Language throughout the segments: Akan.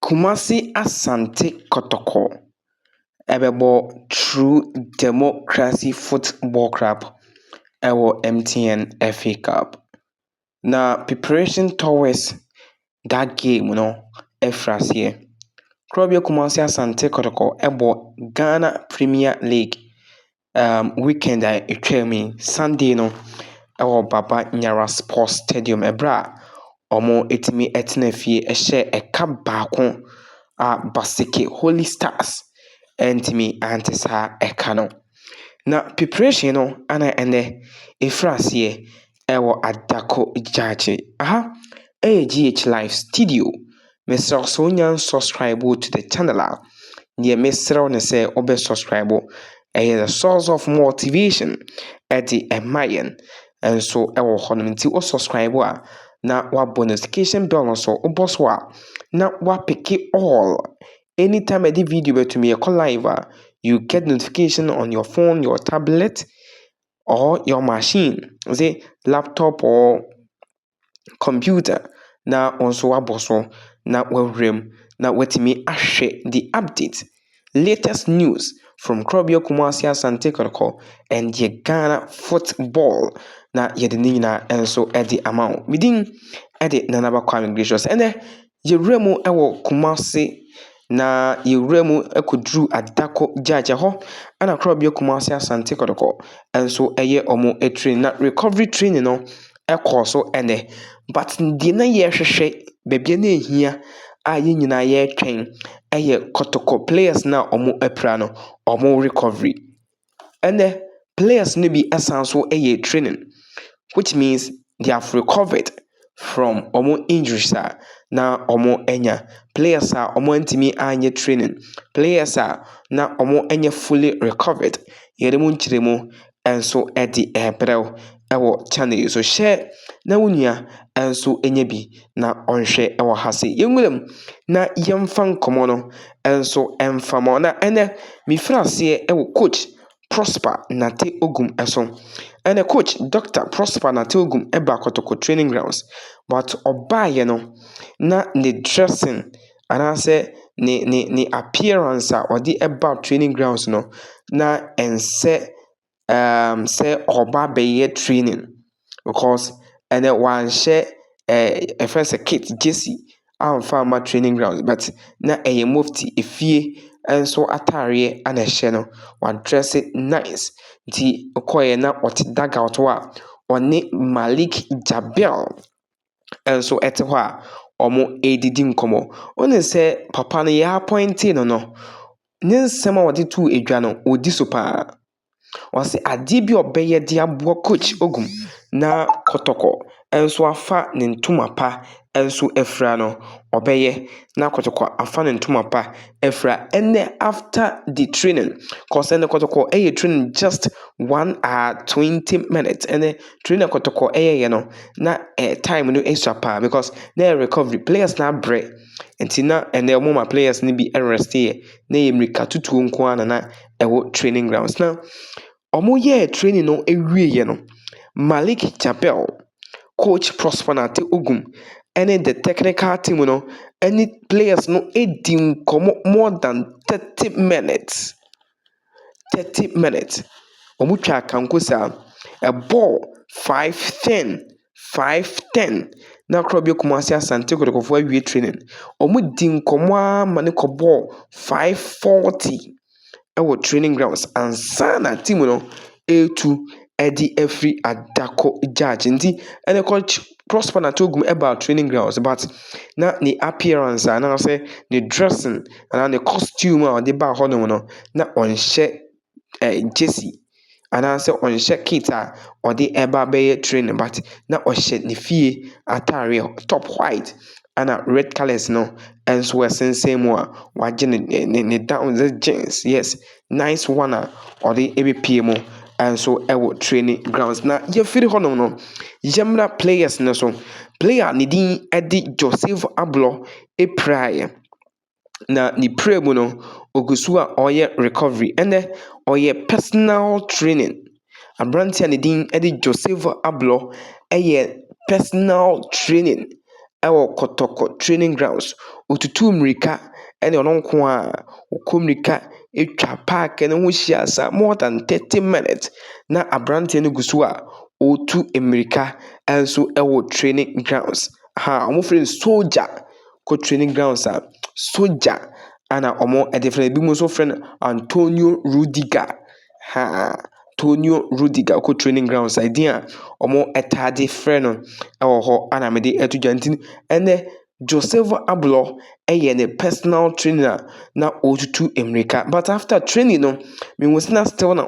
Kumasi Asante Kotoko bɛbɔ True Democracy Football Club wɔ MTN FA Cup. Na Preparation Towers that game no afiri aseɛ. Korɔ bi a Kumasi Asante Kotoko bɔ Ghana Premier League um, weekend a ɛtwaa mu yi sunday no ɛwɔ baba nyara sports stadium ɛberɛ a wɔatumi atena fie ɛhyɛ ɛka baako a baseke holy stars antumi ante saa ɛka no na preparation no ana ɛnɛ ɛfiri aseɛ ɛwɔ adako gyaagye. Aha ɛyɛ GH live studio. Mesrɛ wo sɛ wonya nsubscribe wo to the channel a, deɛ mesrɛ wo ne sɛ wobɛ subscribe. Ɛyɛ the source of motivation ɛde ɛma yɛn nso ɛwɔ hɔ nom. Nti wo subscribe a na wabɔ notification bell no so. Wobɔ so a na wapeke all. Anytime ɛde video bɛtumi ɛkɔ live a, you get notification on your phone, your tablet, ɔhɔ yɛ machine dze laptop ɔɔ computer na ɔso wɔabɔ so na wɔaworɛ mu na wɔatumi ahwɛ the update, latest news from Korɔbea Kumasi Asante Kotoko and yɛ Ghana football na yɛde ne nyinaa nso de ama wo. Me din de Nana Ba Kwame Gracious. Ɛnnɛ Yɛwura mu wɔ Kumasi, na yɛwura mu kɔduru Adako Gyagya hɔ, ɛna Korabea Kumasi Asante Kɔtɔkɔ nso yɛ wɔn train. Na recovery training no kɔɔ so nnɛ. But deɛ na yɛrehwehwɛ, baabi a na ɛhia a yɛn nyinaa yɛretwɛn yɛ Kɔtɔkɔ players no a wɔapira no, wɔn recovery. Ɛnnɛ, players no bi san nso reyɛ training, which means they have recovered from wɔn injuries a na wɔanya. Players a wɔantumi anyɛ training, players a na wɔnyɛ fully recovered, yɛn mu nkyerɛmu nso de rebrɛ wo. wɔ channel yi so. Hyɛ na wo nua nso nya bi na ɔnhwɛ wɔ ha se. Yɛnwura mu na yɛmfa nkɔmmɔ no nso mfa ma na ɛnɛ mefiri aseɛ wɔ coach Prosper Nate Ogum so. Ɛnɛ coach Dr. Prosper Nate Ogum ba Kotoko training grounds but ɔbaeɛ no na ne dressing anaasɛ ne ne ne appearance a ɔde ba training grounds no na ɛnsɛ ɛɛm sɛ ɔreba abɛyɛ training because ɛnɛ wanhyɛ ɛɛ yɛfrɛ no sɛ kit, gyesi amfa amma training ground but na ɛyɛ mofti, efie nso atadeɛ na ɛhyɛ no. Wadrɛse nice, nti ɔkɔeɛ no, na ɔte dugout hɔ a, ɔne Malik Jaber. nso te hɔ a wɔredidi nkɔmmɔ. Wohu sɛ papa no, yɛapɔintee no no, ne nsɛm a ɔde too dwa no, ɔdi so pa ara. Ɔse adeɛ bi a ɔbɛyɛ de aboa Coach Ogum na Kɔtɔkɔ nso afa ne ntoma pa nso afira no, ɔbɛyɛ na Kɔtɔkɔ afa ne ntoma pa afira. Ɛnnɛ after the training, cos ɛnnɛ Kɔtɔkɔ yɛ training just one hour, twenty minutes, ɛnnɛ. Twi na kɔtɔkɔ yɛeɛ no na eh, time no sua paa because na ɛyɛ recovery players no abrɛ nti na ɛnɛ wɔn ma players no bi rest yɛ na ɛyɛ mmirika tutuo nko ara na na ɛwɔ training grounds na wɔn yɛɛ training no awieɛ no Malik Chapel coach Prosper Nate Ogum ɛne the technical team no ɛne players no di nkɔmɔ more than thirty minutes. Thirty minutes, wɔtwaa kanko saa. Ɛbɔɔ five ten, five ten, na kora bi Kumasi Asante Kotokofoɔ awie training. Wɔdii nkɔmmɔ ara ma no kɔbɔɔ five forty wɔ training grounds ansa na team no retu de afiri Adako Judge nti, ɛnna coach Prosper na Togum baa training grounds but na ne appearance anaasɛ ne dressing anaa ne costume a ɔde baa hɔnom no na ɔnhyɛ eh, jersey anaasɛ ɔnhyɛ kit a ɔde ɛba bɛyɛ training but na ɔhyɛ ne fie ataareɛ top white ana red colours no nso ɛsensɛn mu a wagye ne ne ne down ne jeans yes Nice one a ɔde ɛbɛpie mu nso ɛwɔ training grounds na yɛfiri hɔnom no yɛmmra players no so player ne din ɛde Joseph Ablɔ ɛpiraeɛ na ne pira mu no ɔgu so a ɔreyɛ recovery ɛnɛ ɔyɛ personal training. Aberanteɛ a ne din de Joseph Ablɔ yɛ personal training wɔ Kɔtɔkɔ training grounds. Ɔtutuu mmirika ɛna ɔno nko ara ɔkɔ mmirika twa paake no ho hyia saa more than thirty minutes. Na aberanteɛ no gu so a ɔretu mmirika nso wɔ training grounds. Ha a wɔfrɛ no sogya. Wokɔ training grounds a, sogya na wɔde frɛ no. Binom nso frɛ no Antonio Rudiger. Haa, Tonio Rudiger kɔ training grounds a din a wɔtaa de frɛ no wɔ hɔ a na mede ato dwa nti ɛnɛ Josevo Ablɔ yɛ ne personal trainer a na ɔretutu mmirika but after training no mehu sɛ na still na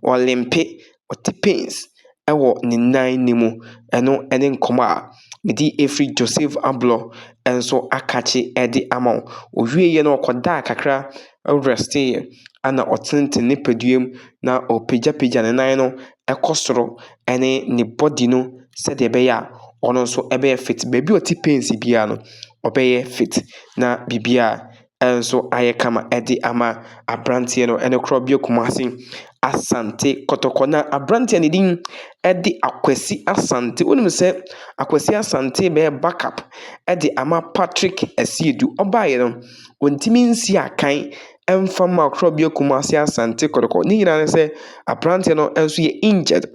ɔlimpe ɔte pains wɔ ne nan no mu. Ɛno ne nkɔmmɔ a mede afiri Joseph Ablɔ nso akakye de ama wo. Ɔwieeɛ no ɔkɔdaa kakra rɛsteeɛ ɛna ɔtenetene ne padua mu na ɔrepagyapagya ne nan no kɔ soro ne ne body no sɛdeɛ ɛbɛyɛ a ɔno nso bɛyɛ fit. Baabi a ɔte pains biara no, ɔbɛyɛ fit na biribiara nso ayɛ kama de ama aberanteɛ no ne Korɔbea Kumasi Asante Kɔtɔkɔ. Na aberanteɛ no din de Akwasi Asante. Wonim sɛ Akwasi Asante bɛyɛ back up de ama Patrick Asiedu. Ɔbaeɛ no, ɔntumi nsi akan mfa mma Korɔbea Kumasi Asante Kɔtɔkɔ. Ne nyinaa ne sɛ aberanteɛ no nso yɛ injured.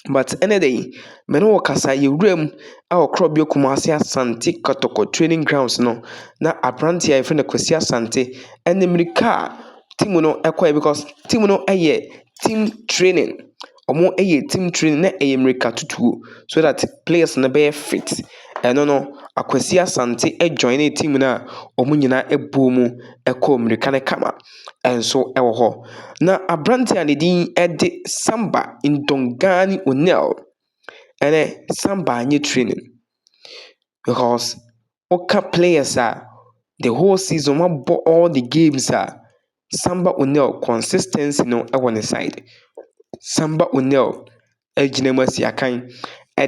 But ɛnnɛ da yi, me ne wo kasa yi, yɛwura mu wɔ Korɔbea Kumase Asante Kɔtɔkɔ Training Grounds no, na aberanteɛ a wɔfrɛ no Kwasi Asante de mmirika a team no kɔeɛ because team no yɛ team training. Wɔyɛ team training na ɛyɛ mmirikatutuo so that players no bɛyɛ fit. Ɛno no, Akwasi Asante joinee team no a wɔn nyinaa boom kɔɔ mmirika no kama. nso wɔ hɔ, na aberanteɛ a ne din de Samba Ndongane Onel ne Samba nyɛ training because woka players a, the whole season wabɔ all the games a, Samba Onel consistency no wɔ ne side. Samba Onel agyina mu asi akan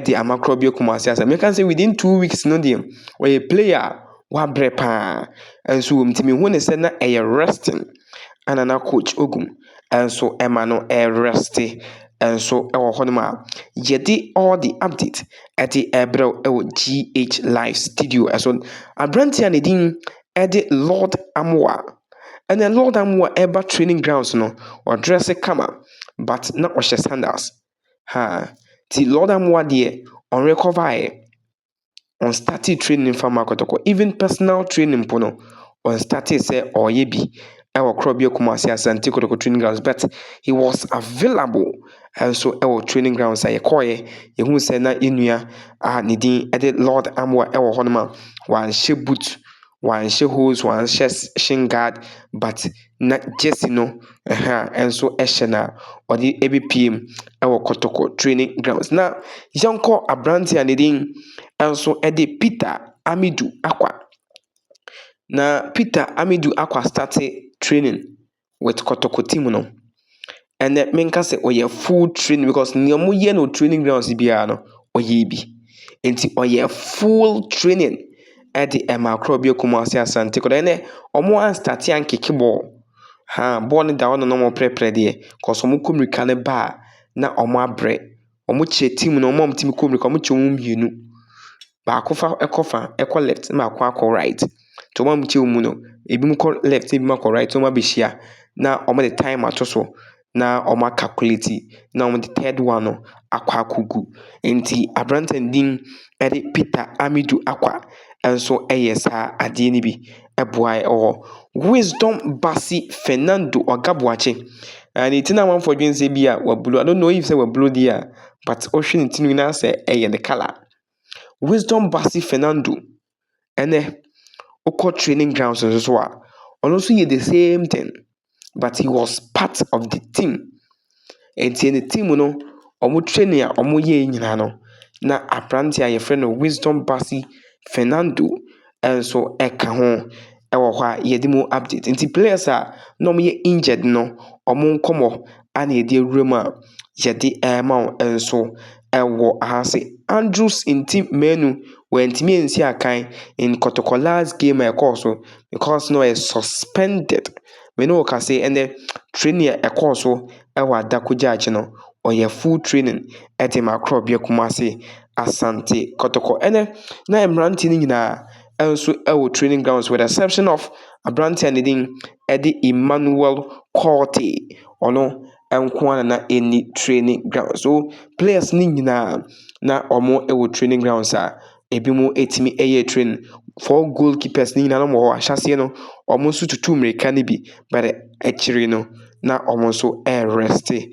de ama Korɔbea Kumasi asɛm. Meka sɛ within two weeks no deɛ ɔyɛ player a wabrɛ paa. Nso wɔn ti mehu ne sɛ na ɛyɛ resting ana na coach Ogum nso ɛma no ɛreste nso ɛwɔ hɔnom a yɛde all the update ɛde ɛbrɛw ɛwɔ GH Live studio ɛso. Aberanteɛ a ne din ɛde Lord Amoa Ɛnna Lord Amoa reba training grounds no, ɔdrɛse kama, but na ɔhyɛ sandals. Ha! Nti Lord Amoa deɛ, ɔnrekɔvaeɛ. Ɔnstartee training mfa mma kɔtɔkɔ. Even personal training mpo no, ɔnstartee sɛ ɔreyɛ bi wɔ Korɔbea Kumasi Asante Kotoko training grounds, but he was available nso wɔ training grounds a yɛkɔeɛ. Yɛhuu sɛ na yɛn nua a ne din de Lord Amoa wɔ hɔnom a wanhyɛ boot, Wɔanhyɛ hose, wɔanhyɛ shin guard but na jersey no ɛha nso hyɛ no a ɔde ɛbɛpue mu wɔ Kɔtɔkɔ training grounds. Na yɛnkɔ aberanteɛ a ne din nso de Peter Amidu Akwa. Na Peter Amidu Akwa starte training with kɔtɔkɔ team no. Ɛnɛ menka sɛ ɔyɛ full training because nea wɔyɛ no training grounds biara no ɔyɛ bi. Nti ɔyɛ full training de ɛma akora bi Kumasi Asante kɔtɔ. Ɛnɛ wɔn an start ankeke bɔɔl. Ha bɔɔl no da hɔ na wɔreprɛprɛ deɛ cause wɔkɔ mirika no ba a na wɔabrɛ. Wɔkyerɛ team no, wɔn a wɔtumi kɔ mmirika no, wɔkyerɛ wɔn mmienu. Baako fa kɔ fa kɔ left ɛna baako akɔ right. Nti wɔn a wɔkyerɛ wɔn mu no, ebinom kɔ left na ebinom akɔ right na wɔabɛhyia na wɔde time ato so na wɔakalkuleti na wɔde third one no akɔ akɔgu. Nti aberanteɛ no din de Peter Amidu Aqua nso yɛ saa adeɛ no bi. boae wɔ Wisdom Bassey Fernando Oga Boakye. Uh, ne ti na amanfoɔ dwen sɛ bi a wabulu. I don't know if sɛ wabulu deɛ a, but wohwɛ ne ti no nyinaa sɛ ɛyɛ ne colour. Wisdom Bassey Fernando ɛnɛ wokɔ training grounds nso so a, ɔno nso yɛ the same thing. but he was part of the team. Enti ne team no, wɔn training a wɔyɛɛ nyinaa no, na aberanteɛ a yɛfrɛ no Wisdom Basi Fernando nso ka ho wɔ hɔ a yɛde mu update. Nti players a na wɔyɛ injured no, wɔn nkɔmmɔ a na yɛde awura mu a yɛde rema wo nso wɔ ha se Andrews nti Manu wantumi ansi akan in Kɔtɔkɔ last game a ɛkɔɔ so because na ɔyɛ suspended. Me ne wo ka se ɛnɛ training a ɛkɔɔ so wɔ Adakogya akyi no, ɔyɛ full training de ma Akorɔbea Kumase, Asante Kɔtɔkɔ. Ɛnɛ na mmeranteɛ no nyinaa nso wɔ training grounds with the exception of aberanteɛ a ne din de Emmanuel Kortey. Ɔno nko ara na na ɛnni training ground. So players no nyinaa na wɔwɔ training grounds a ebinom tumi yɛ training. Four goal keepers no nyinaa na wɔwɔ hɔ. Ahyɛaseɛ no, wɔn nso tutu mmirika no bi, but akyire no, na wɔn nso rerɛste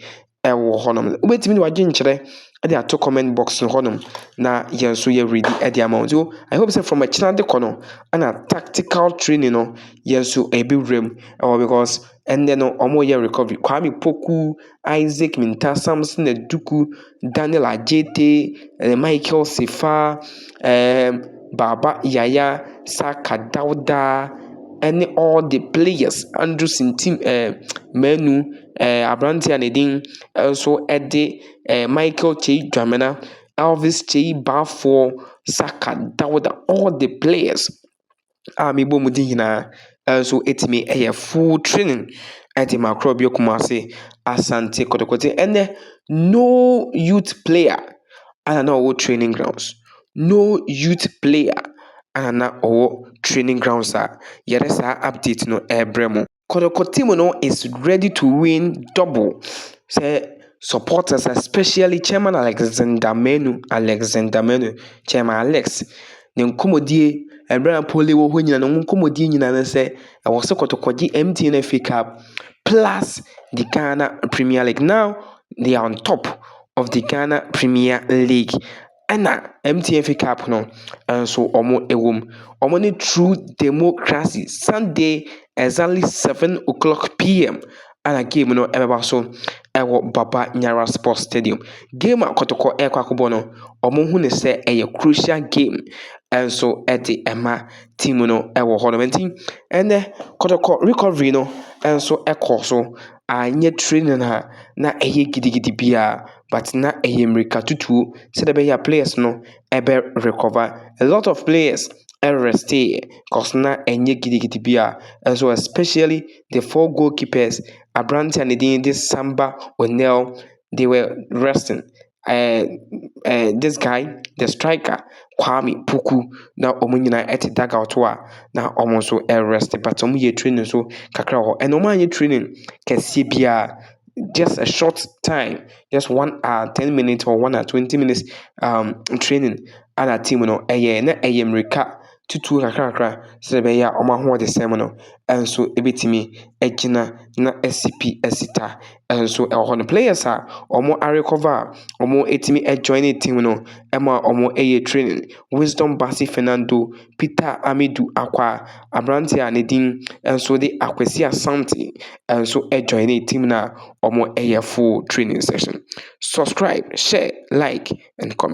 wɔ hɔnom. Wobɛtumi de w'adwenkyerɛ de ato comment box no hɔnom na yɛn nso yɛaredi de ama wo. So I hope sɛ from akyire de kɔ no, ɛna tactical training no, yɛn nso yɛbɛwuram wɔ hɔ because, Ɛnnɛ no, wɔreyɛ recovery. Kwame Poku, Isaac Mintah, Samson Aduku, Daniel Adjetey, ɛɛ Michael Sefa, ɛɛ Baba Yaya, Saka Dauda, ɛne all the players, Andrew Sintim ɛɛ Manu, ɛɛ aberanteɛ a ne din nso de ɛɛ Michael Kyei Dwamena, Elvis Kyei Baffour, Saka Dauda, all the players. a mebɔ mu di nyinaa nso ɛtumi yɛ full training ɛde ma Akorɔbio Kumase Asante Kotokote ɛnɛ no youth player ana na ɔwɔ training grounds no youth player ana na ɔwɔ training grounds a yɛde saa update no ɛrebrɛ mo. Kɔtɔkɔtem no is ready to win double sɛ supporters especially chairman Alexander Manu Alexander Manu chairman Alex ne nkɔmmɔdie ɛberɛ a Napoli wɔ hɔ nyinaa no wɔn nkɔmmɔdie nyinaa ne sɛ ɛwɔ sɛ Kɔtɔ kɔgye MTN FA Cup plus the Ghana Premier League now they are on top of the Ghana Premier League ɛna MTN fake app no nso wɔn ɛwɔ mu. Wɔn ne true democracy Sunday exactly seven o'clock PM ɛna game no ɛbɛba so ɛwɔ Baba Nyara Sports Stadium. Game a Kɔtɔkɔ ɛrekɔ akɔbɔ no, wɔn hu no sɛ ɛyɛ crucial game ɛnso ɛde ɛma team no ɛwɔ hɔ nom. Nti ɛnɛ Kɔtɔkɔ recovery no ɛnso ɛkɔ so anyɛ training a na ɛyɛ gidigidi biara. but na ɛyɛ mmirikatutuo sɛdeɛ ɛbɛyɛ a players no bɛ recover. A lot of players resteeɛ cos na ɛnyɛ gidigidi biara nso especially the four goalkeepers, aberanteɛ a ne din de Samba Onel, they were resting. Ɛɛ ɛɛ this guy the striker Kwame Puku na wɔn nyinaa te dug out hɔ a na wɔn nso rest but wɔyɛɛ training nso kakra wɔ hɔ. Ɛna wɔanyɛ training kɛseɛ biara. just a short time, just one hour, ten minutes or one hour, twenty minutes um, training a na team no ɛyɛ na ɛyɛ mmirika tutuo kakrakra sɛ ɛbɛyɛ a wɔn ahoɔdesɛm no nso ɛbɛtumi agyina na asi pi asi ta nso ɛwɔ hɔ no players a wɔn arekɔva a wɔatumi ajoine team no ɛma wɔyɛ training wisdom bassey fernando Peter Amidu Akwah, aberanteɛ a ne din nso de Akwasi Asante nso joinee team no a wɔyɛ full training session. Subscribe, share, like and comment.